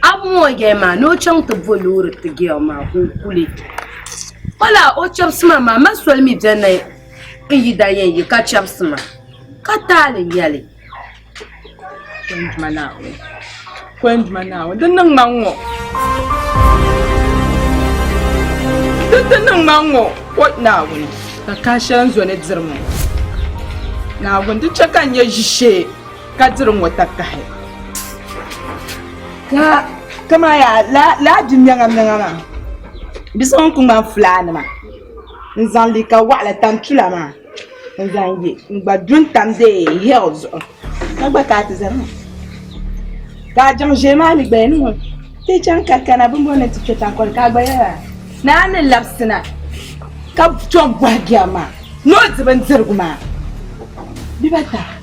A mɔɔgɛi maa ni o chaŋ ti bo loori ti gɛl maa ka o kuli. O laa o chɛbisi ma maa ma soli mi bɛ ni n yi da yɛn yi ka chɛbisi ma ka taali nyɛli. Kɔnduma Naawuni, Kɔnduma Naawuni, di niŋ ma ŋ-ŋɔ. Di ti niŋ ma ŋ-ŋɔ, o Naawuni, ka kahi shɛli n zo ni diri ma ŋɔ. Naawuni, di chɛ ka n nyɛ ʒishee. Ka diri ŋɔ takahi. Ka kama ya laa di mɛŋa mɛŋa maa di so ŋun ku ŋmani fulaa nima n zaŋ liika waɣila tan tula maa n zaŋ ye n gba du n tam dee hill zuɣu ka gba kaa ti zani ŋɔ ka a jaŋ ʒee maa mi gba ya ni ŋɔ ti chaŋ ka kana bin bɔni ni ti kpe tankɔli ka a gba yɛra ni a ni labisina ka tom bɔhi bɛri maa ni o di bindirigu maa dibata.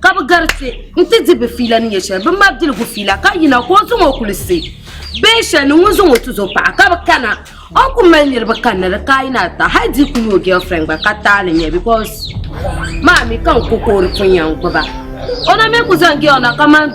Ka bɛ garisi nti di bɛ fiila ni nyɛ shɛli bɛ mabiligu fiila ka yina ka o zaŋ o kuli si bee shɛli ni ŋun zaŋ o tuzo paɣa ka bɛ kana o ni kuli mali niriba kanna di ka yina ata hali di kuli o girlfriend gba ka taali nyɛ because maa mi ka n ku ka o di pun yɛn gbuba o na mi ku zaŋ girl na kamani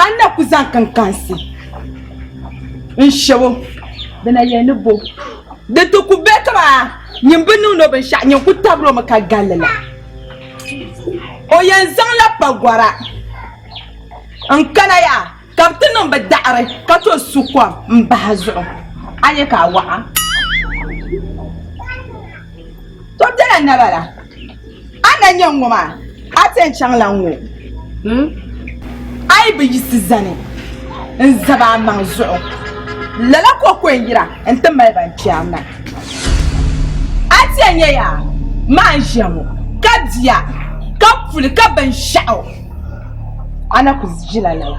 A ni na ku zaŋ kinkansi n-shɛbo bɛ na yɛli ni bo di ti ku be ka maa nyin bi niŋdi o binshɛɣu nyin ku tabir o mi ka gal li la. O yɛn zaŋla pagɔra n-kana yaa ka bɛ ti niŋ bɛ daɣiri ka to su kom m-bahi zuɣu a nya ka a waɣa. To bela naba la, a na nya ŋɔ maa, a ti yɛn chaŋla ŋɔ a yi bi yiɣisi zani n-zab a maŋ zuɣu, lala ka o ku yɛn yira nti mali ba n-kpɛri na. A ti yɛn nya ya maa n-ʒiya ŋɔ, ka di a, ka puli ka binshɛɣu a na ku ʒila lala.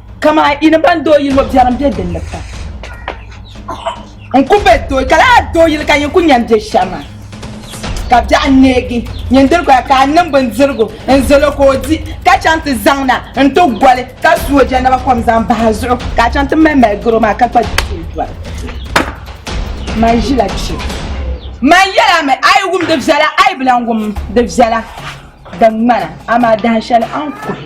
Kamaa yi ni ban doo yili ŋɔ biɛrim be din ni pam. N ku be doo ka laa doo yili ka nyin ku nya n be shɛma. Ka biɛɣu neegi nyin diri koya ka n niŋ bindirigu n zal o ka o di ka chaŋ ti zaŋ na n ti goli ka su o jɛnaba kom zaŋ bah a zuɣu ka a chaŋ ti mali mali garo maa ka kpa duchili doli. Man ʒila kpe. Man yɛla mi a yi wum di viɛla a yi bi lan wum di viɛla din ŋmana amaa dahinshɛli a ni kuhi.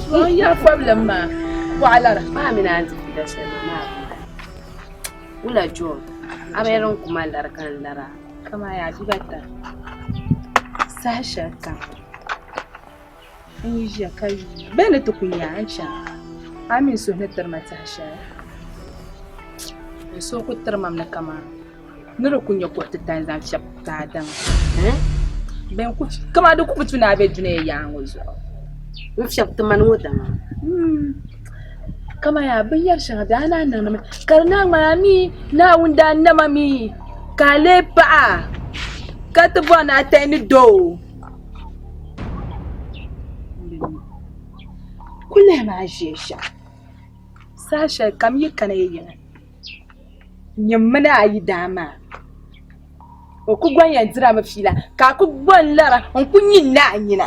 Zuɣuya problem maa bɔɣilara. Maa mi naan dihi bida shɛli maa maa bi mali. Wula John a bi yɛn niŋ kuma lari ka n lara kaman yaa bib ata saha shɛli kam n yi ʒiya ka yuun bɛ ni ti ku nya a ni chana a mi n suhu ni tiri ma saha shɛli n suhu ku tiri mam ni kaman Ni di kul nyɛ kuɣ titali zaŋ fiɛbi daadam, bɛn ku tu, kaman di ku bi tu ni a be dunia yaaŋɔ zuɣu. N-fiɛbi ti mani ŋɔ dama. Kaman yaa binyɛr shɛŋa daa ni a niŋdimi, ka di naan ŋmani a mi Naawuni daa na ma mi ka a lee paɣa, ka ti bɔri ni a tahi ni doo. Ku lihimi a ʒiɛ shɛm, saha shɛlikam yi kana yi yina. nyɛ mini a yi daa maa o ku gɔŋ yɛn dirami fiila ka a ku gɔŋ lara n ku nyi n naai nyina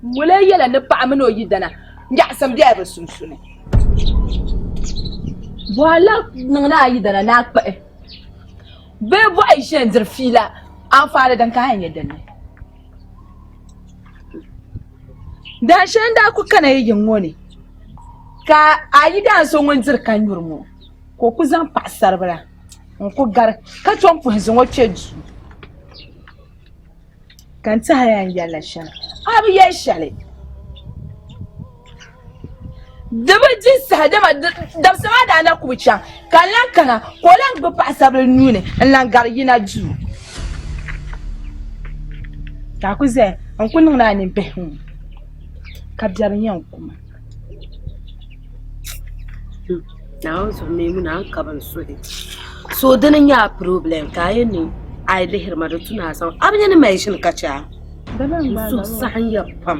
moli yɛla ni paɣa mini o yidana nyaɣasim bɛla bi sunsuuni bɔhila niŋla a yidana ni a kpuɣi bee bɔhi ʒiya diri fiila anfaani din ka a nyɛ dinni Dan shɛli n-daa ku kana yi yiŋ ŋɔ ni, ka a yi daan so ŋun diri ka nyuri ŋɔ, ka o ku zaŋ paɣisaribila n-ku gari ka tom puhi zaŋ o kpe duu. Ka n tɛhi a ya n yɛli la shɛm, a bi yɛli shɛli. Di bi di saha, dama dabisa maa daa na ku bi chaŋ, ka n lan kana ka o lan gbibi paɣisaribila nuu ni n-lan gari yina duu. Ka a ku zaya n-ku niŋ ni a ni bihi ŋɔ ka biɛri nya n-ku ma. Naawuni zuɣu mi ŋuna n-ka bɛ ni suhi. So di ni nya a pirobilɛm ka a yɛn ni a yi lihiri ma di tu ni a zaŋ. A bi nya ni maʒini ka chɛ a? N suhu saɣiya pam.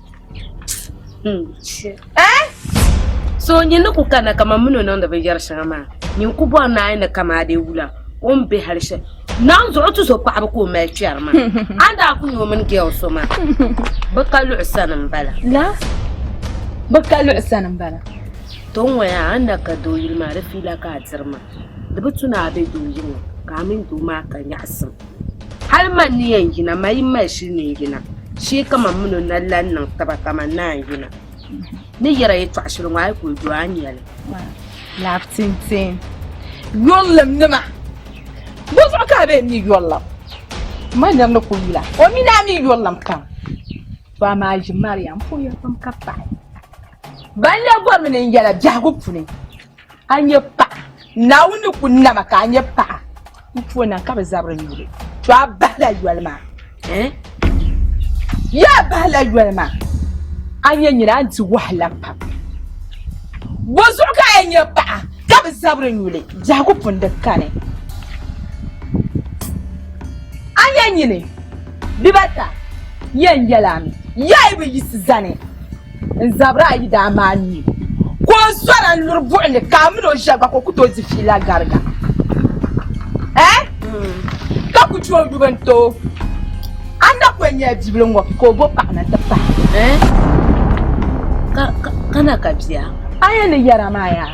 So nyin ni ku kana kaman min o niŋdi binyɛri shɛŋa maa, nyin ku bɔri naai ni kamaadee wula o ni be hal shɛli. Naanzuɣu tuzo paɣibu ka o mali kpɛri maa, a ni daa ku nya o mini gɛl so maa, bɛ ka luɣu sani m-bala. Bɛ ka luɣu sani m-bala. Tiŋɔya a ni na ka doo yuli maa di fiila ka a diri ma. Di bi tu ni a be doo yiŋa ka a mini doo maa ka nyaɣisim. Hal man ni yɛn yina, ma yi mali shili ni n-yina, shee kaman min o na lan niŋ taba kaman naa n-yina. Ni yɛra yɛtɔɣ shili ŋɔ, a yi kul du a nya li. Laɣibu tintin yurilim nima! Bɔ zuɣu ka a be n-mi yurilim? M ma nir ni kul yula, o mi ni a mi yurilim kam. To amaa ʒi Mariam, m poya pam ka paɣi. Ban lɛbigɔrimi ni n yɛla biɛhigu puni. A nyɛ paɣa Naawuni ni ku nama ka a nyɛ paɣa n puo na ka bi zabiri nyuli to a bahila yoli maa yaa bahila yoli maa a nyɛ nyina a di wahala pam bo zuɣu ka a nyɛ paɣa ka bi zabiri nyuli biɛhigu pun di kani a nyɛ nyini bibata yɛn yɛla mi yaa yi bi yisi zani N zabiri ayi daa maai n mi ka o zɔra n-luri buɣi ni ka a mini o ʒiya gba ka o ku tooi di fiila gariga. Eh? Ka ku chɛ o yubu n-ti o. A na ku yɛn nyɛla bibila ŋɔ ka o bo paɣa na ti pahi. Eh? Ka na ka bia? A yɛn ni yɛra maa yaa?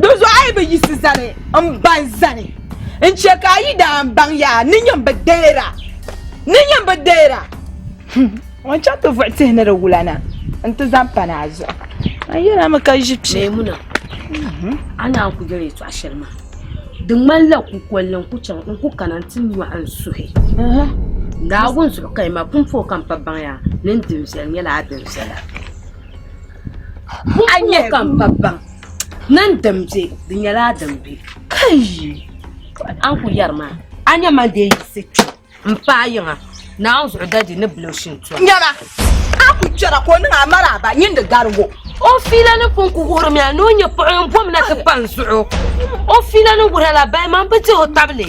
Dinzuɣu a yi bi yiɣisi zani m-ba n zani n-chɛ ka a yi daa n baŋ ya ni nyini bi deera, ni nyini bi deera. O ni chaŋ ti vuɣi tihi ni di wula na nti zaŋ pa ni a zuɣu. A yɛla mi ka ʒi piɛ. Mɛɛmuna, a ni a ni ku yɛli yɛtɔɣ shɛli maa, di ŋmanila kukol ni n ku kana nti nyɔɣi n suhi. Naawuni zuɣu ka yi ma pumpɔŋɔ ka m pa baŋ ya ni n din viɛli nyɛla a din viɛla. Buɣa nyɛ ka m pa baŋ ni n din be di nyɛla a din be. Kayi! A ni ku yɛri maa, a nya man deei yiɣisi kpe m paai yiŋa Naawuni zuɣu Dadi ni bil o shintɔɣu. Nyama! A ku chɛra ka o niŋ a maraaba nyin di garigu. O fiila ni pun ku wuhirimi a ni o nyɛ paɣ yɛn bom na ti kpa n zuɣu. O fiila ni wuhir a la baliman bi dihi o tabili.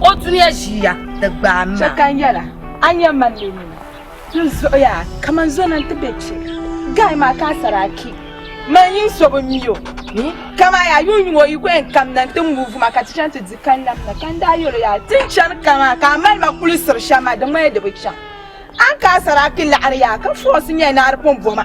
O duniya ʒiya di gbaai ma. Chɛ ka n yɛla, a nya man ni nini. N zuɣuya kaman zɔna nti be kpe. Gaai maa ka a Saraki, mali nyin so bi mi o ni. Kaman yaa yuun yuŋ o yi ku yɛn kamina nti muvi ma ka ti chaŋ ti di kanlɛm na, ka n daa yɛl o yaa, Ti ni chani kamaa ka a mali ma kulisiri shɛm maa, di ŋmani di bi chaŋ. A ni ka a Saraki laɣiri yaa ka fɔɔsi nyɛ ni a di pun bo ma.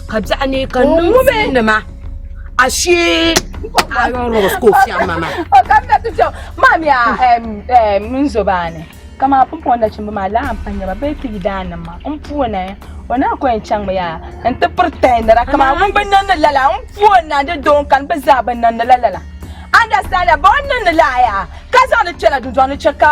ka biɛɣu ni ka niŋ nima a shee a yɔn rɔs ka o fiɛm ma ma o ka mi na ti fiɛm maa mi a n zo baa ni ka maa pun pɔn nachimba maa laa n pa nyɛba bee ti yi daa niŋ ma n puuni o naa ko yɛn chaŋ mi yaa n ti piri tahinira ka maa ŋun bi niŋdi lala n puuni na di doo n kani bi zaa bi niŋdi la lala understand ya ba o niŋdi la yaa ka zaŋ di kpɛla dundɔŋ ni chɛ ka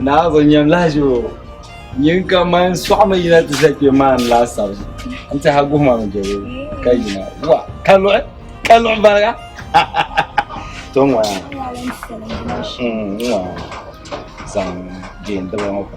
Naa zo nyam lahaji o nyin ka man sɔɣi mi yina ti za kpe maa n laasabu n tiha guhi ma mi jɛbo ka yina wa ka luɣi ka luɣi bariga to ŋɔ ya ŋɔ zaŋ jeen diba ŋɔ pa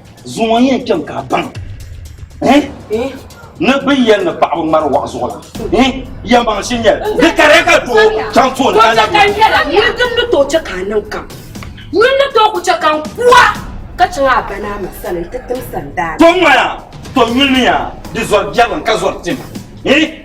Zuŋɔ n yɛn kpɛm ka a baŋ ni bin yɛli ni paɣaba ŋmari waɣa zuɣu la yɛn baŋ shi nyɛli di kariya ka doo chaŋ tooni ka la yuli din ni tooi chɛ ka a niŋ kam yuli ni tooi ku chɛ ka n kuwa ka chaŋ a ba ni a ma sani n ti tim sandaani. To ŋmaya to yuli ni yaa di zɔri biɛlim ka zɔri tim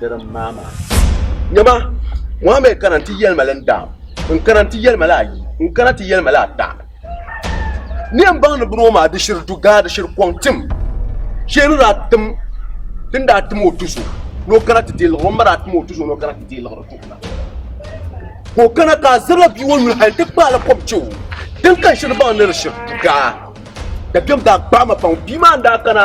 Di din maa maa. Nyama, Mohammed kana nti yɛli ma li n-daam, n-kana nti yɛli ma li ayi, n-kana ti yɛli ma li ata. Ni yɛn baŋ ni bini ŋɔ maa di shiri dugaa di shiri kɔŋ tim shee ni daa tim ti ni daa tim o tuso ni o kana ti deei liɣiri o ni ma daa tim o tuso ni o kana ti deei liɣiri tuhi na ka o kana ka a zirila bia ŋɔ nuli hali ti kpaai la kɔbi che o din kan shiri baŋ ni di shiri dugaa dabiɛm daa kpaai ma pam bia maa n daa kana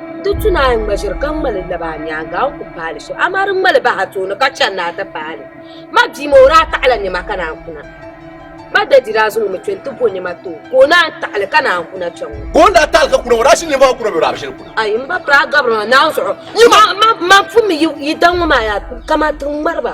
Ti tu ni a ni ŋmaziri ka ŋmali laba a nyaaŋa a ni ku paali so, amaa di ŋmali bahi a tooni ka chani ni a ti paali. Ma bia maa o daa taɣila nɛma ka naan kuna. Ma dadi daa zaŋ o mi kpe nti bo nɛma ti o, ka o naan taɣili ka naan kuna kpe ŋ-ŋɔ. Ka o ni daa taɣili ka kuna ŋɔ, o daa shiri nɛma maa kuna bee o daa bi shiri kuna? Ayi, m ba piri a gabiri maa naanzuɣu. Nyima! Ma pummi yi daŋ ŋɔ maa yaa, kaman ti ŋmari ba.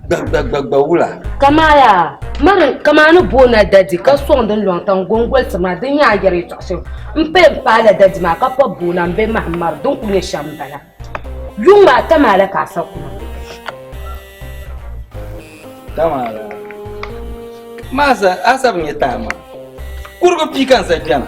Gbagbagbagba wula. Kamaya mari kamani boona dadi ka soŋ din lɔŋ tan gongoli ti ma din yaa yɛri tɔɣisim n pay n paala dadi maa ka pɔb boona m be mahim mari din kuli nyɛ shɛm bala. Yuŋ maa ta maa la ka a sa kuma. Kamaya maa sa a sa bi nyɛ taama kurigu pii ka n sa kpɛna.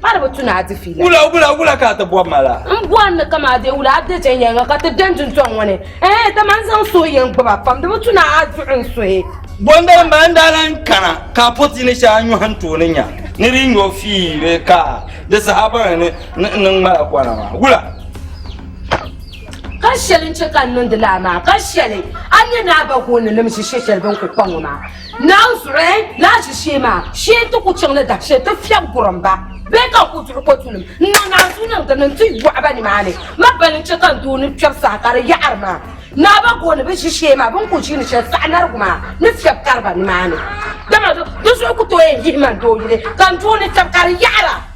Pari bi tu ni a di fiila. Wula wula wula ka a ti bɔbi ma la. N bɔri ni ka ma deei wula a dechɛ yɛli ma ka ti beni duntɔŋ ŋɔ ni. Ɛɛh dama n zaŋ suhi yɛn gbubi a pam di bi tu ni a duɣi n suhi. Bɔndali maa n daa lan kana ka a pɔti ni shɛli a nyɔhi n tooni nya ni di nyɔ fii bee ka di saha baŋ ni n ni ŋmala kɔna maa. Wula. Ka shɛli n chɛ ka n niŋdi lala maa ka shɛli a ni nya ni a ba goondinim ʒi shɛshɛli bɛ ni kuli kpa ŋɔ maa. Naan zuɣu lahi ʒi shee maa shee ti ku chaŋ ni dahi shee ti fiɛbi gurim ba bee ka n ku zuɣu kotulim n-niŋ naanzuu niŋ dini nti yɔɣi ba nimaani. Ma bali n-chɛ ka n doo ni kpɛri saha ka di yaɣiri ma. Naa ba gooni bi ʒi shee maa bɛ ni ku ʒiini shɛli saha narigu maa ni fiɛbi kari ba nimaani. Dama di zuɣu ku tooi yihi ma n doo yuli ka n doo ni kpɛbu ka di yaɣira.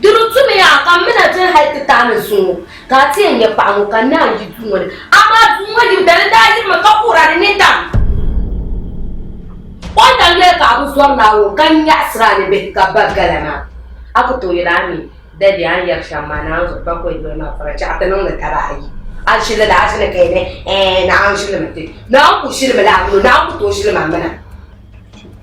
Di ni tumiya ka m mi na chani hal ti taai ni zuŋɔ, ka a ti yɛn nya paɣ ŋɔ ka n naan yi duu ŋɔ ni. Amaa duu ŋɔ yim dali daa yiri mi ka kuhira di ni tam o daŋ yɛli ka a bi zɔri Naawuni ka nyaɣisiri a ni bihi ka ba gala maa. A ku tooi yɛli, Ami, Dɛde, a ni yɛri shɛm maa, Naawuni zuɣu pakɔi doli ma pɔra chɛɣu ti niŋdi daba ayi. A ni shili li a ʒini ka yɛli, Ɛɛn, Naawuni ʒilimi ti. Naawuni ku ʒili mi la a mini o, Naawuni ku tooi ʒili ma mina.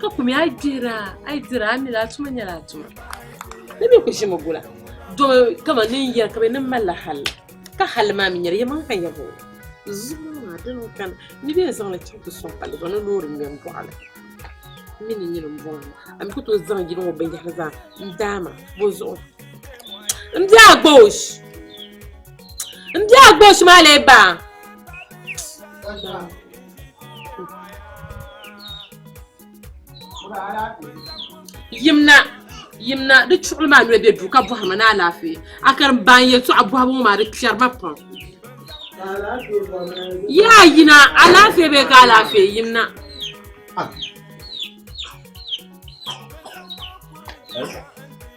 Ka kumi a yi dihira a yi dira a mila a tuma nyɛla a tuma. Ni bɛ kuli ʒimi gula do kaman ni n yɛri ka bɛ ni malila hal ka hal maa mi nyɛli yɛlimaŋli ka n yɛri ŋɔ zuŋɔ maa dini n kani ni bɛ yɛn zaŋli chaŋ ti sɔŋ palli zuɣu ni loori ŋmɛ m bɔɣili m mi ni nyini m bɔŋɔ a mi ku tooi zaŋ yili ŋɔ binyɛhiri zaa n daai ma bɔ zuɣu m bɛ agboosh m bɛ agboosh maa lee baa Yimna yimna di chuɣuli maa noli be duu ka bɔhiri ma ni alaafee a kari m ba n yɛltɔɣa bɔhibu ŋɔ maa di kpɛri ma pam yaa yina alaafee bee ka alaafee yimna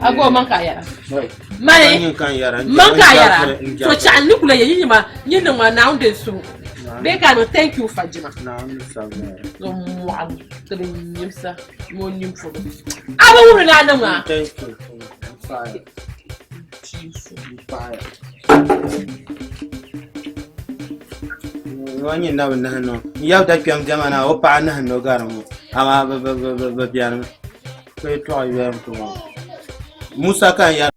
ago man ka yara mani man ka yara to chaɣa ni kula ye yi ma yi niŋ ma naawuni din su bee ka no thank you fajima so mɔɣu ka bi nyimsa ni o nyin polo a bi wuri naa niŋ ma ŋɔ nyɛ nabi nahi nɔ n yab da kpɛm diɛma na o paɣa nahi nɔ gari ŋɔ amaa bi bɛni mi ka yɛtɔɣa yɔli n ku ŋɔ musa ka n yɛra